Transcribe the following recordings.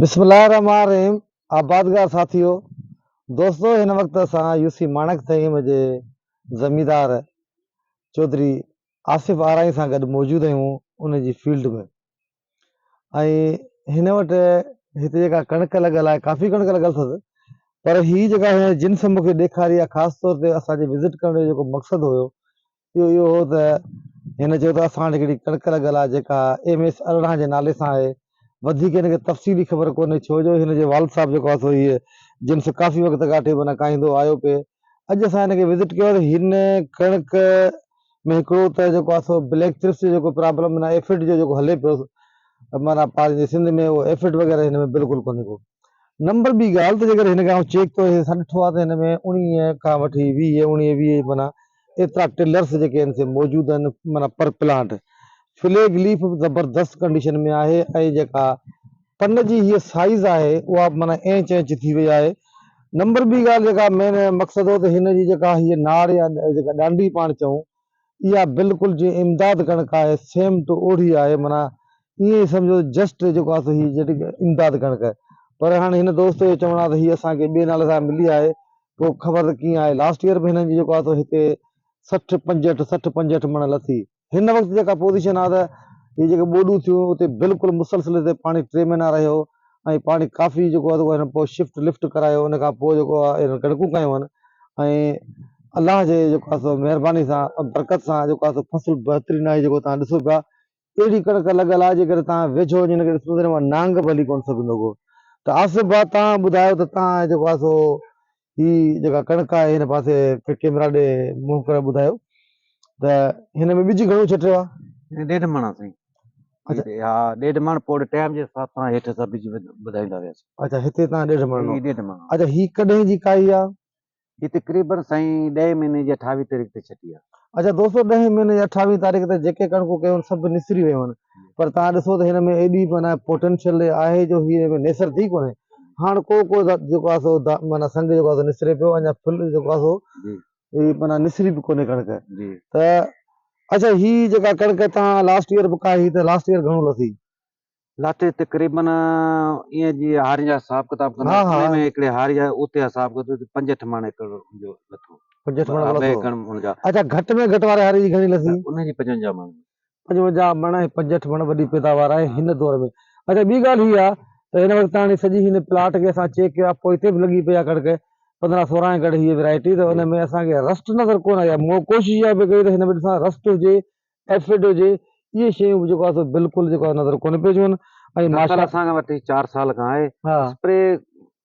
بسم الله الرحمٰن الرحيم آبادگار ساٿيو دوستو هن وقت اسان يو سي ماڻڪ ٿهيم جي زميندار چوڌري آصف آرائين سان گڏ موجود آهيون ان جي فيلڊ ۾ ۽ هن وٽ هتي جيڪا ڪڻڪ لڳل آهي ڪافي ڪڻڪ لڳل اٿس پر هي جيڪا جنس مونکي ڏيکاري آهي خاص طور تي اسان جي وزٽ ڪرڻ جو جيڪو مقصد هيو اهو اهو هو ته هن چيو ته اسان وٽ هڪڙي ڪڻڪ لڳل آهي جيڪا ايم ايس ارڙهن جي نالي سان آهي وڌيڪ هن کي تفصيلي خبر ڪونهي ڇو جو هن جو والد صاحب جيڪو آهي سو هيء جنس ڪافي وقت کان اٺي بنا کائيندو آيو پئي اڄ اسان هن کي وزٽ ڪيو ته هن ڪڻڪ ۾ هڪڙو ته جيڪو آهي سو بليڪ چرس جو جيڪو پرابلم معنيٰ ايفڊ جو جيڪو هلي پيو معنيٰ پنهنجي سنڌ ۾ اهو ايفڊ وغيره هن ۾ بلڪل ڪونهي ڪو نمبر ٻي ڳالهه ته جيڪڏهن هن کي آئون چيڪ ڪيو اسان ڏٺو آهي ته هن ۾ اوڻيهه کان وٺي ويهه اوڻيهه ويهه معنيٰ ايترا ٽلرس جيڪي آهن سي موجود آهن معنيٰ پر پلانٽ فليگ ليف به زبردست ڪنڊيشن ۾ آهي ۽ جيڪا پن جي هيء سائيز آهي اها به معنيٰ اينچ اينچ ٿي وئي آهي نمبر ٻي ڳالهه جيڪا مين مقصد هو ته هن جي جيڪا هيء نار يا جيڪا ڏانڊي پاڻ چئون اها بلڪل جيئن امداد ڪڻڪ آهي سيم ٽو اوڙي آهي معنيٰ ائين ئي سمجهو جسٽ جيڪو آهي سو هي امداد ڪڻڪ پر هاڻي هن دوست جو چوڻ آهي ته هي اسان کي ٻئي نالي سان ملي آهي پوء خبر ته ڪيئن آهي لاسٽ ايئر به هنن جي جيڪو آهي سو هتي سٺ پنجهٺ سٺ پنجهٺ مڻ لٿي هن وقت جيڪا پوزيشن آهي ته هي جيڪي ٻوڏون ٿيون اتي بلڪل مسلسل هتي پاڻي ٽي مهينا رهيو ۽ پاڻي ڪافي جيڪو آهي هنن پوء شفٽ لفٽ ڪرايو ان کان پوء جيڪو آهي هنن ڪڻڪون ڪيون آهن ۽ الله جي جيڪو آهي سو مهرباني سان برڪت سان جيڪو آهي سو فصل بهترين آهي جيڪو توهان ڏسو پيا اهڙي ڪڻڪ لڳل آهي جيڪڏهن توهان ويجهو وڃي هنکي ڏسندو ته هن مان نانگ به هلي ڪونه سگهندو ڪو ته آصف ڀاء توهان ٻڌايو ته توهان جيڪو آهي سو هي جيڪا ڪڻڪ آهي هن پاسي ڪيمرا ڏي منهن ڪري ٻڌايو ته هن ۾ ٻج گهڻو ڇٽيو آهي ڏيڍ مڻ سائين اچھا ها ڏيڍ مڻ پوء ٽائيم جي حساب سان هيٺ سا ٻج ٻڌائيندا وياسين اچھا هتي تان ڏيڍ مڻ هي ڏيڍ مڻ اچھا هي ڪڏهن جي ڪاهي آهي هي تقريبن سائين ڏهين مهيني جي اٺاويهين تاريخ تي ڇٽي آهي اچھا دوستو ڏهين مهيني جي اٺاويهين تاريخ تي جيڪي ڪڻڪون ڪيون سڀ نسري ويون پر توهان ڏسو ته هن ۾ ايڏي معنيٰ پوٽينشل آهي جو هي هن نيسر ٿي ڪونهي هاڻ ڪو ڪو جيڪو آهي سو معنيٰ سنگ جيڪو آهي سو نسري پيو اڃا ڦل جيڪو آهي سو هي معنيٰ نسري به ڪونهي ڪڻڪ ته اچا هي جيڪا ڪڻڪ تان لاسٽ ايئر به ڪاهي ته لاسٽ ايئر گهڻو لٿي لاٿي تقريبن ايئن جي هاري جا حساب ڪتاب ڪندا ها ها ۾ هڪڙي هاري جا اتي حساب ڪيو ته پنج اٺ ماڻ ايڪڙ جو لٿو پنج اٺ ماڻ لٿو اچا گهٽ ۾ گهٽ واري هاري جي گهڻي لٿي ان جي پنجونجاهه ماڻ پنجونجاهه مڻ ۽ پنجهٺ مڻ وڏي پيداوار آهي هن دور ۾. اچا ٻي ڳالهه هي آ ته هن وقت هاڻي سڄي هن پلاٽ کي اسان چيڪ ڪيو آ پوء هتي به لڳي پئي آ ڪڻڪ پندرهن سورهن ڳڙهه هيء ويرائٽي ته ان ۾ اسان کي رسٽ نظر ڪونه آئي آ مون ڪوشش اها به ڪئي ته هن ۾ ڏسان رسٽ هجي ايفڊ هجي اهي شيون به جيڪو آ سو بلڪل جيڪو آ نظر ڪونه پئي اچن ۽ ماشاء الله اسان کي وٺي چار سال کان آهي اسپري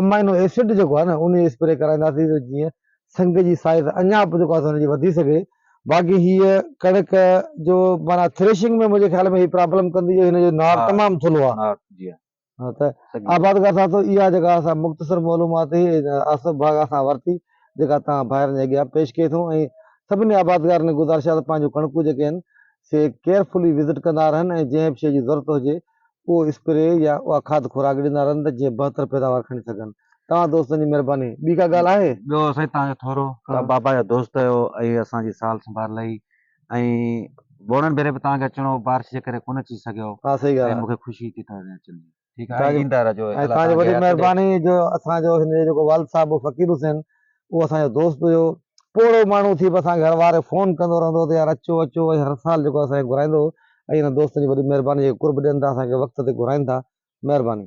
امائنو ايسڊ جيڪو آهي نه ان جي اسپري ڪرائينداسين ته جيئن سنگ جي سائيز اڃا به جيڪو آهي سو ان جي وڌي سگهي باقي هيء ڪڻڪ جو معنيٰ ٿريشنگ ۾ منهنجي خيال ۾ هي پرابلم ڪندي جو هن جو نار تمام ٿلهو آهي ها ته آبادگار صاحب تو اها جيڪا اسان مختصر معلومات هي آصف باغا سان ورتي جيڪا توهان ڀائرن جي اڳيان پيش ڪئي ٿو ۽ سڀني آبادگارن کي گذارش آهي ته پنهنجون ڪڻڪون جيڪي آهن سي ڪيئرفلي وزٽ ڪندا رهن ۽ جنهن به شيء جي ضرورت هجي اهو اسپري يا اها کاڌ خوراڪ ڏيندا رهن ته جيئن بهتر پيداوار کڻي سگهن توهان دوستن جي مهرباني ٻي ڪا ڳالهه آهي؟ ٻيو سائين توهان جو ٿورو توهان بابا جو دوست آهيو ۽ اسان جي سال سنڀال لهي ۽ ٻوڙن ڀيري به توهان کي اچڻو هو بارش جي ڪري ڪونه اچي سگهيو ها سهي ڳالهه ۽ آهي مونکي خوشي ٿي توهان جي اچڻ جي ٺيڪ آهي توهان جي ايندا رهجو ۽ الله توهان جي توهان کي وڏي حياتي ڏي. مهرباني جو اسان جو هن جو جيڪو والد صاحب هو فقير حسين اهو اسان جو دوست هيو، پوڙهو ماڻهو ٿي به اسان کي هر واري فون ڪندو رهندو هو ته يار اچو اچو ۽ هر سال جيڪو اسان کي گهرائيندو هو ۽ انهن دوستن جي وڏي مهرباني جيڪي قرب ڏين ٿا اسان کي وقت تي گهرائين ٿا مهرباني.